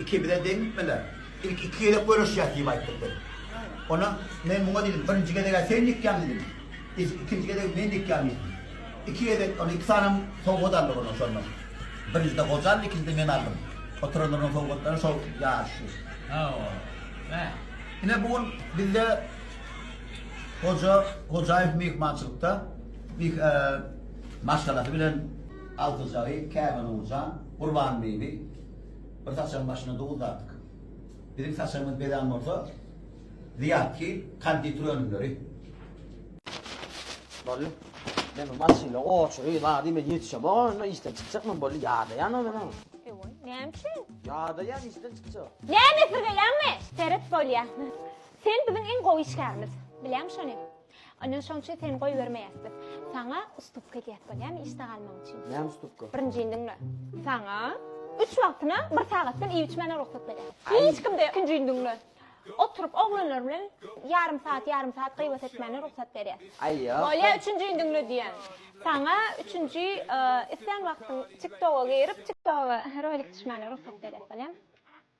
Ikimize deň gitmeler. Ilki iki gezek göreşýäs diýip aýtdyk biz. Onda men muňa diýdim, birinji gezeg-ä sen nikýaň diýdim. Ilki ikinji gezeg men nikýaň diýdim. Iki gezek, onda iki sanem sowgat aldyk onuň şondan. Birinjide goja aldy, ikinjide men aldym. Oturanlaryň sowgatlary şol ýaş şu. Hawa. Hä. Ine bu gün bizde goja Hojaýew myhmançylykda, myh, eee, maşgalasy bilen altyjagy Käbänurjan, Gurbanbibi, Bir saçagyň başyna duz dartyk. Biziň saçagymyz bezän bolsa, Zyýat kil, konditer önümleri. Boldy. Men bu maşynda oçury, zady men ýetişemok onda, işden çykjak men boldy, ýadaýan ol meniň. Ewaý, näme üçin? Ýadaýan işden çykjak. Näme esirgeýäňmi? Seret bolýa. Sen biziň iň gowy işgärimiz. Bilýäň şony. Ine şoň üçin seni goýbermeýäs biz. Saňa ustupka edýäs bolýamy işde galmagyň üçin? Näme ustupka? Birinjini diňle. Saňa üç wagtyna bir sagatdan iýip-içmäne rugsat berýäs. Hiç kimde ikinjini diňle. Oturyp oglanlar bilen ýarym sagat, ýarym sagat gybat etmäne rugsat berýäs. Aý ýok. Bolýa üçünjini diňle diýýän. Saňa üçünji islän wagtyň tiktoga girip, tiktoga rolik düşmäne rugsat berýäs bolýamy?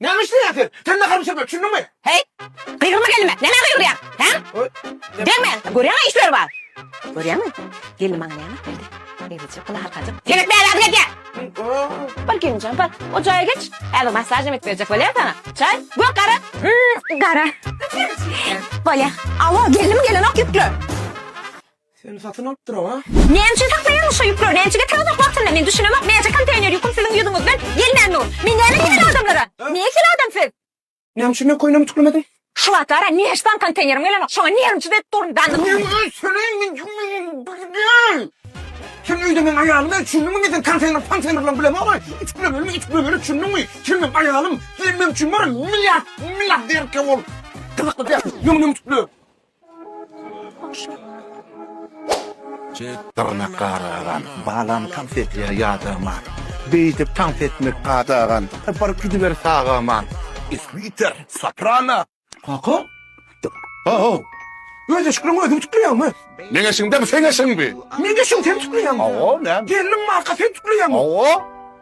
Näme işleýäň sen? Sen nahar bişirme, düşündiňmi? Heý, gygyrma gelnime, nämä gygyrýaň, hä? Degme, görýäň-ä işleri bar. Görýäňmi, gelnim maňa näme alyp geldi? Eýlejek gyly halkajyk. Sen etme äladyň edýä! Bar gelinjan, bar, o jaýa geç. Häzir massaž hem edip berjek bolýar saňa. Çaý, gök, gara? Gara. Bolýa. Alo, gelnim gelenok ýükle. Seni satyn alyp duram a. Näme üçin saklaýaňyz şo ýükleri näçege tiz uzak wagtynda men düşünemok näçe konteýner ýüküm siziň ýüzüňizden gelmän dur men näme diýmeli adamlara ne hil adam siz. Näme üçin men köýnegimi tüklemedim. Şu wagtlara neşsan konteýnerim gelenok şoňa nerwsiz edip durun da. Meň öz söleýin men jümlenin birden sen öýde meň aýalym el çündüňmi men seni konteýner ponteýner bilen bilemok ütüklemeli ütüklemeli çündüňmi sen meň aýalym sen meň üçin wara milliard milliarderke bol gyzykly däl ýöne men ütükle. Dyrnak garagan, balam tans edýär ýadaman, Beýdip tans etmek gadagan, bir gidiber sagaman. Isbiter, soprano. Kaka? Ho-how! Öz eşigiňi özüň tükleýäňmi? Meň eşigimdemi, seň eşigiňmi? Meň eşigimi sen tükleýäňmi? Hawa, näme? Gelniň marka sen tükleýäňmi? Hawa.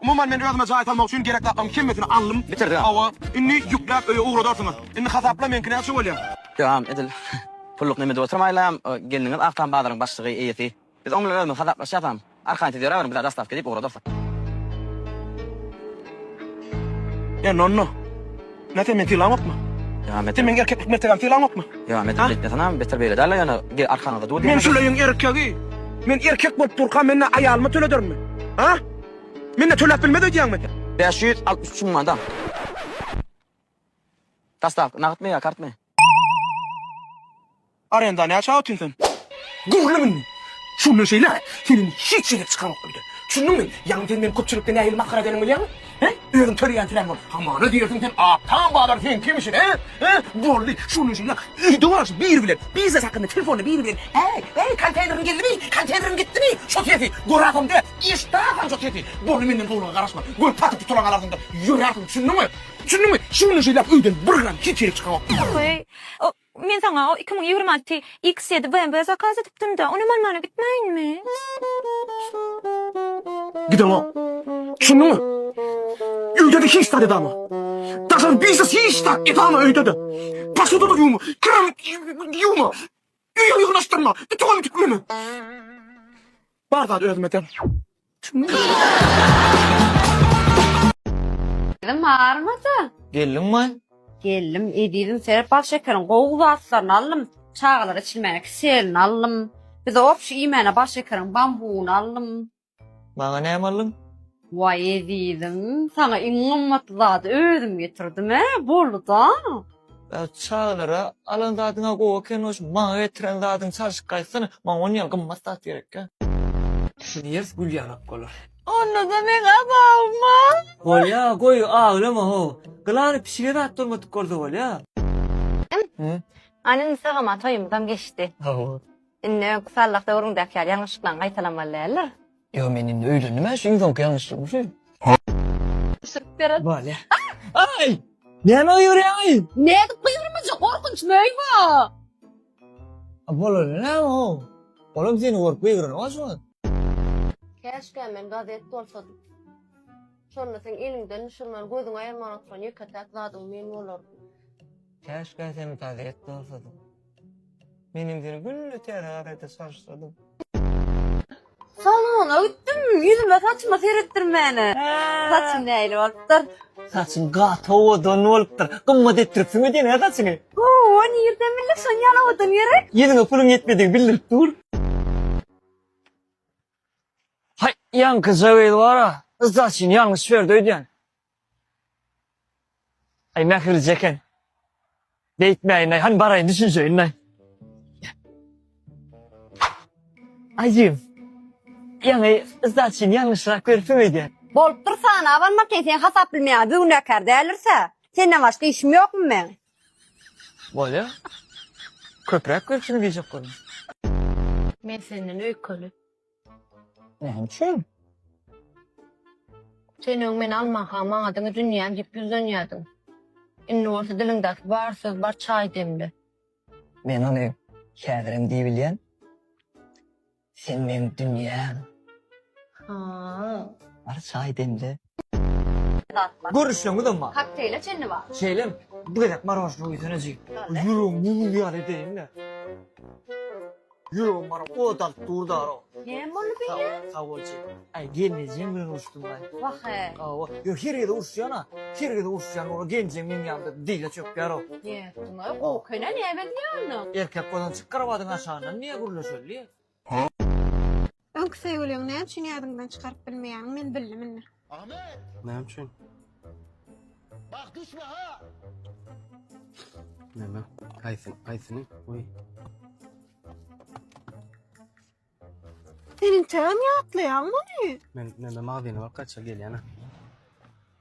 Umuman men özüme jaý salmak üçin gerek zatlary hemmesini aldym bitirdim hawa indi ýükläp öýe ugradarsyňyz indi hasapla meňki näçe bolýa. Döwam edil pulluk neme edip oturmaýlaň gelniňiz Aktam bazaryň başlygy eýesi biz oň bilen özümiz hasaplaşýasam arkaýyn siz ýöräberiň bizä dostawka diýip ugradarsyk. Ýa nonno. Ýa sen meni sylaňokmy? Ýa Mete meň erkeklik mertebämi sylaňokmy? Ýa Mete beýtmeseňem, beter beýle däl-le ýöne, gel arkaňyzda dur diýen. Men şuleýin erkegi. Men erkek bolup durka men-ä aýalyma töledermi? A? Men-ä töläp bilmez öýdýäňmi Mete? Bäş ýüz altmyş üç müň manat al. Dastaw, nagtmy ýa kartmy? Arenda näçä otyn sen? Gürlem indi! Şu günden şeýläk seniň hiç ýere çykaryňok öýden. Düşündiňmi? Ýagny sen meni köpçülikde nähili masgara edeniňi bilýäňmi? Hä? Özüň töleýän töläň bor. Hamana diýersiň sen Aktam bazar seň kimişin, hä? Hä? Boldy, şu günden şeýläk öýde bolalyşyp biri bilen, biznes hakynda telefonda biri bilen, Äý, äý, konteýneriň geldimi? Konteýneriň gitdimi? Şo sesi göräsem-de, eşidäsem şo sesi. Boldy, menden gowulyga garaşma. Görüp satyp tutulan galarsyň-da, ýörärsiň, düşündiňmi? Düşündiňmi? Şu günden şeýläk öýden bir gram hiç ýere çykamok. Oý, o, men saňa o iki müň ýigrimi alty X ýedi BMW zakaz edipdim-dä, onam almana gitmäýinmi? Gideňok. Düşündiňmi? Öýde-de hiç zat edama. Daşary biznes hiç zat edama öýde-de. Posuda-da ýuwma, kir-em ýuwma. Öýe ýygnaşdyrma. Ditin ony git mene. Bar zat özüme deň. Gelin barmyda? Geldiň my? Geldim, ezizim seret bal şekeriň gowy zatlaryny aldym. Çagalara içilmäge kiselini aldym. Bize obşy iýmäne bal şekeriň bambugyny aldym. Maňa näme aldyň? Waý ezizim, saňa iň gymmat zady özüm getirdim-ä, boldy-da. Çagalara alan zadyň-a gowy ekeni, şu maňa getiren zadyňy çalşyp gaýtsana, maňa ondan ýaly gymmat zat gerek-ä. Şu diýers gül ýanak bolar. Onda-da meň azabym-a. Bolýa, goý, aglama-how. Gylany pişige zat durmadyk bolsa bolýa. Hm, hany indi sagamam toýumyzam geçdi. Hawa. Indi öňki sallah döwrüňdäki ýaly ýalňyşlyklaň gaýtalamaly däldir. Ýo men indi öýlendim a şu iň soňky ýalňyşlygym şu. Düşürip berer. Bolýa. Aý! Näme gygyryýaňy? Nädip gygyrmajak gorkunç möý bu. A bolany näme how? Olam seni görüp gygyranyň a şu wagt. Käşkä men gazet bolsadym. Şonda seň eliňden düşürmän gözüňi aýyrman oturan ýeke-täk zadyň men bolardym. Käşkä sen gazet bolsadym. Menem seni günde täze gazetde çalyşdyrydym. Salona gitdim, ýüzüme saçyma seretdirmäne. Saçym nähili bolupdyr? Saçyň gaty owadan bolupdyr. Gymmat etdiripsiň-ä diýen-ä saçyňy. Ho-o, nirden bildik şony ýaly owadan gerek? Ýüzüňe puluň ýetmedigi bildirip dur. Haý, ýaňky jagel bar-a, yzdaşyny ýalňyş berdi öýdýän. Aý mähirli eken. Beýtmäýin-aý, hany baraýyn düşünşeýin-aý. Ajym, ýaňy sdaçyny ýalňyşrak beripsiň öýdýän. Bolupdyr sany, abanma sen, seni hasap bilmeýän günäkär däldir-sä. Senden başga işim ýokmy meň? Bolýa. Köpräk beripsiň diýjek boldum. Men senden öýkeli. Näme üçin? Sen öň meni almaka maňa diňe dünýäm diýip ýüzlenýärdiň. Indi bolsa diliňdäki bar söz bar çaý demli. Men ony häzirem diýibilýän. Sen meň dünýäm. Ha. Bar çaý demli. Zat bar. Görüşjeňizem bar. Kokteýle çenli bar. Şeýlem. Bir gezek marožna guýsana jigim. Boldy. Ýüregim mum ýaly edeýin-le. Ýüregim bary ot alyp dur daro. Näme boldy beýle? Sag bol jigim. Aý gelnejeň bilen uruşdym-laý. Wah-e. Hawa. Ýok her gezek uruşýan-a. Her gezek uruşýan ora genjeň meň ýanymda dile çökýär-ow. Nätdiň-ow? Gowy ekeni-ä näme edýär onda? Erkek bolan çyk krowadyň aşagyndan niýe gürleşeli? Öňki söýgüliňi näme üçin ýadyňdan çykaryp bilmeýäňmi men bildim indi. Ahmet! Näme üçin? Bak düşme ha! Näme? Haýsy, haýsyny? Goý. Sen integem ýatlaýaň muny. Men, men, men magzyna bak gaça gelýän.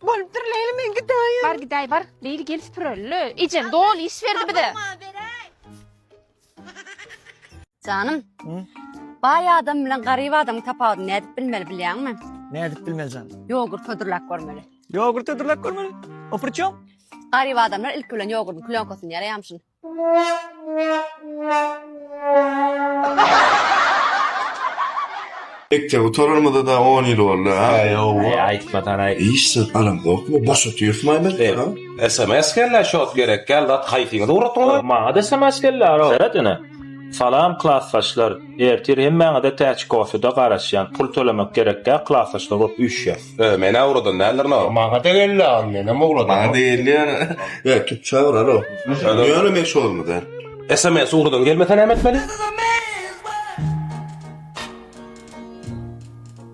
Bolupdyr Leýli men gidaýin. Bar gidaý bar. Leýli gel süpüreli. Ejen dol iş berdi bize. Janym. Baý adam bilen garyp adam tapawudy nädip bilmeli bilýäňmi? Nädip bilmeli janym? Ýogurt hödürläp görmeli. Ýogurt hödürläp görmeli. O prçem? Garyp adamlar ilki bilen ýogurdyň plýonkasyny ýaraýamşyn. Mekdep gutararymyza-da on ýyl boldy, a? Äý, hawa. Äý, aýtmasan-aý. Hiç zat alamzokmy? Boş otyrsmy aý biz? A? Sms geldi, şot gerekgäl zat, haýsyňyzy ugratdyňyz? Maňa-da sms geldi, alo. Seret ine. Salam klasdaşlar. Ertir hemmäňize täçikosyda garaşýan pul tölemek gerek däl klasdaşlar bolup üýşýäs. Öö menä ugradan däldir no. Maňada geldi agam menem ugradan. Maňada geldi ýöne ýöne türkçe urar o. Ýöne men şo ýylmy däl. Sms ugradan gelmese näme etmeli?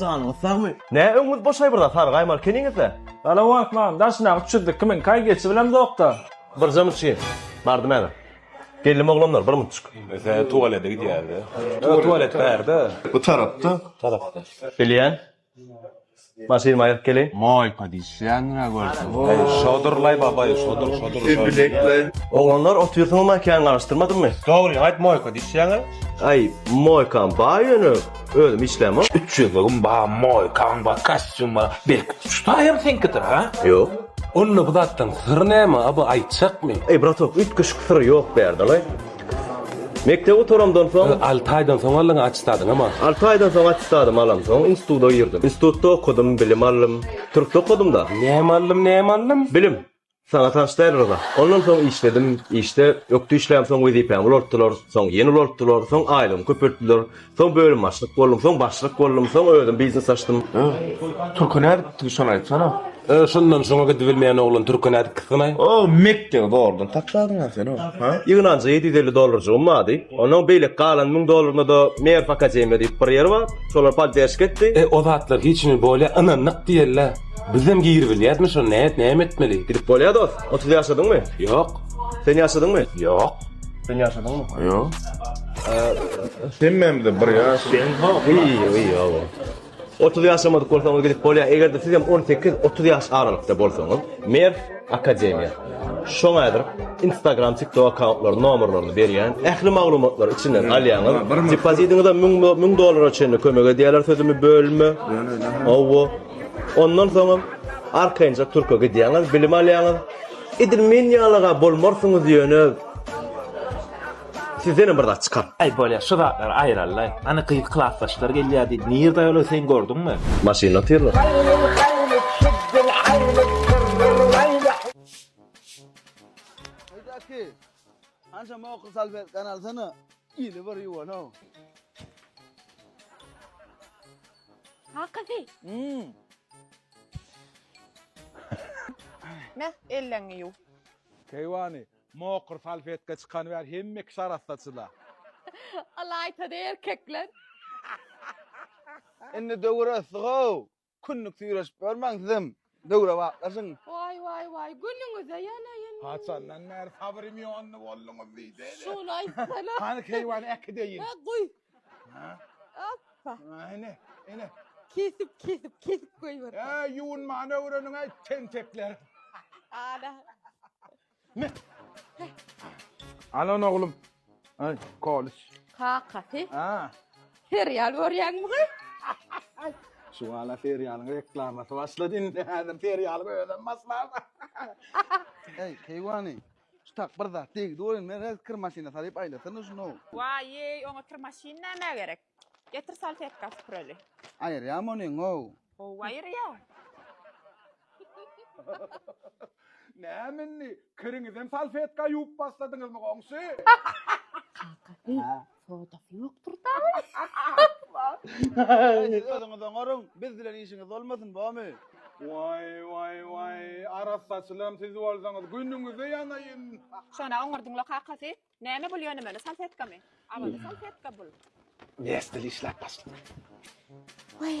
Janyňyz sagmy? Nä öňüňiz boşaý burada sary gaýmar keniňizde? Salawat man, daşyna uçurdyk kimin kaý geçi bilemzokda. Birje muşin. Bardym äbe. Geldim oglanlar bir munçuk. Ese tualete gidýärdi. Öe tualet bärde. Bu tarapda. Bilýän. Maşynymy aýryp geleýin. Moý padyş. Janra görsün. Eý şodur laý babaý şodur şodur. Öbülekler. Oglanlar otyrsyňyz ma kän garyşdyrmadymy. Dogryny aýt moýka dişýäňä. Aý moýkam bar ýöne özüm işlämok. Üç ýüzlügim bar moýkaň bar kastýum bar belki şu taýam seňkidir ha. Ýok. Onda bu zatlaň syry näme a bu aýtjakmy. Eý bratok üýtgeşik syry ýok bu ýerde laý. Mekdep gutaramdan soň, Alty aýdan soň aldyň attestadyňy ma? Alty aýdan soň attestadymy alamsoň, instituda girdim. Institutda okadym, bilim aldym. Türkde okadym-da. Näme aldym, näme aldym? Bilim. Saňa tans däl, Ryza. Ondan soň işledim. Işde ökde işlämsoň wezipämi ulaltdylar. Soň ýene ulaltdylar. Soň aýlygymy köpeltdiler. Soň bölüm başlyk boldum, soň başlyk boldum, soň özüm biznes açdym. Türke nädip gitdiňiz şony aýtsana. Şundan şoňa gidibilmeýän oglan türke nädip gitsin-aý? O mekdebi zordan taşladyň-a sen o, ha? Ýygnanja ýedi ýüz elli dollarjygym bardy. Onuň beýleki galan müň dollarynda-da Merw akademiýa diýip bir ýer bar, şolar podderşka etdi. E, o zatlar hiç hili bolýa, ynandyk diýeli-ä. Bizem giribilýäsmi şo, näet, näme etmeli? Gidip bolýa dost. Otuz ýaşadyňmy? Ýok. Sen ýaşadyňmy? Ýok. Sen yaşadın mı? Yok. Sen benim de bir yaş. Sen ha iyi iyi ya. 30 yaşamadık bolsanız gidip bolya. Eğer de siz hem 18-30 yaş aralıkta bolsanız. Mer Akademiya. Şoňa edip Instagram, TikTok akkauntlaryny, nomerlerini berýän. Ähli maglumatlary içinden alýaňyz. Depozitiňize 1000 dollara çenli kömek edýärler sözümi bölme. Owo. Ondan soňra arkaýynça Türkiýe gidýäňiz, bilim alýaňyz. Edil men ýalaga bolmarsyňyz ýöne Sizdenem bir zat çykar. Aý bolýa şu zatlary aýralylaý. Hany gyz klasdaşlar gelýä diýdi. Nirde aýal ol sen gördüňmi? Maşynda otyrlar. Keýwany, mokyr salfetka çykany bäri hemme kişi arassaçyda. Al aýtady erkekler. Indi döwür ösdi-how. Künlük süýreşip ýörmäň sizem, döwrebaplaşyň. Waý, waý, waý, günüňize ýanaýyn. Haçandan bäri sabrym ýondy bolduňyz diýseýdä. Şuny aýtsana. Hany keýwany äkideýin. Hä, guý. Hoppa. Ene, ene. Kesip, kesip, kesip goýber. Ä, ýuwunmany öwreniň aý tentekler. Ana. Alan oglum. Aý, kolis. Kakasy. Ä. Serial görýäňmi gyz? Şu hala serialyň reklamasy başlady indi. Häzir serialyň özem başlar. Eý, keýwany. Çytak bir zat degdi oýun men rez kir maşyna salyp aýlasana şuny. Waýýy oňa kir maşyn nämä gerek. Getir salfetka süpüreli. Aýyrýam ony ow. Gowy aýyrýa. Näme indi kiriňizem salfetka ýuwup başladyňyzmy goňşy. Kaka heý Sodasy ýokdur dagy. Aý siz özüňiz oňaryň, biz bilen işiňiz bolmasyn bomy. Waý waý waý arassaçylam siz bolsaňyz günüňize ýanaýyn. Şona oňardyňla kakasy. Näme bul ýöne meni salfetkamy? Awaza salfetka bul. Nesdil işläp başlady. Waý.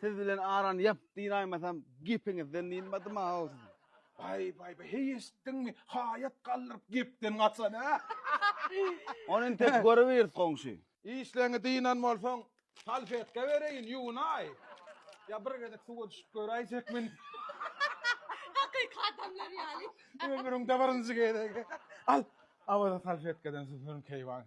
Siz bilen arany ýap diýin aýmasam gepiňizden dynmadym-aw siziň. Baý baý baý heý eşitdiňmi haýat galdyryp gepden gaçan a. Ony intek görübiris goňşy. Işleňi dynan bolsaň salfetka bereýin ýuwunaý. Ýa bir gezek suwa düşüp göräýjekmin. Hakyky adamlar ýaly. Ömrüňde birinji gezek. Al Awaza salfetkadan süpürün keýwany.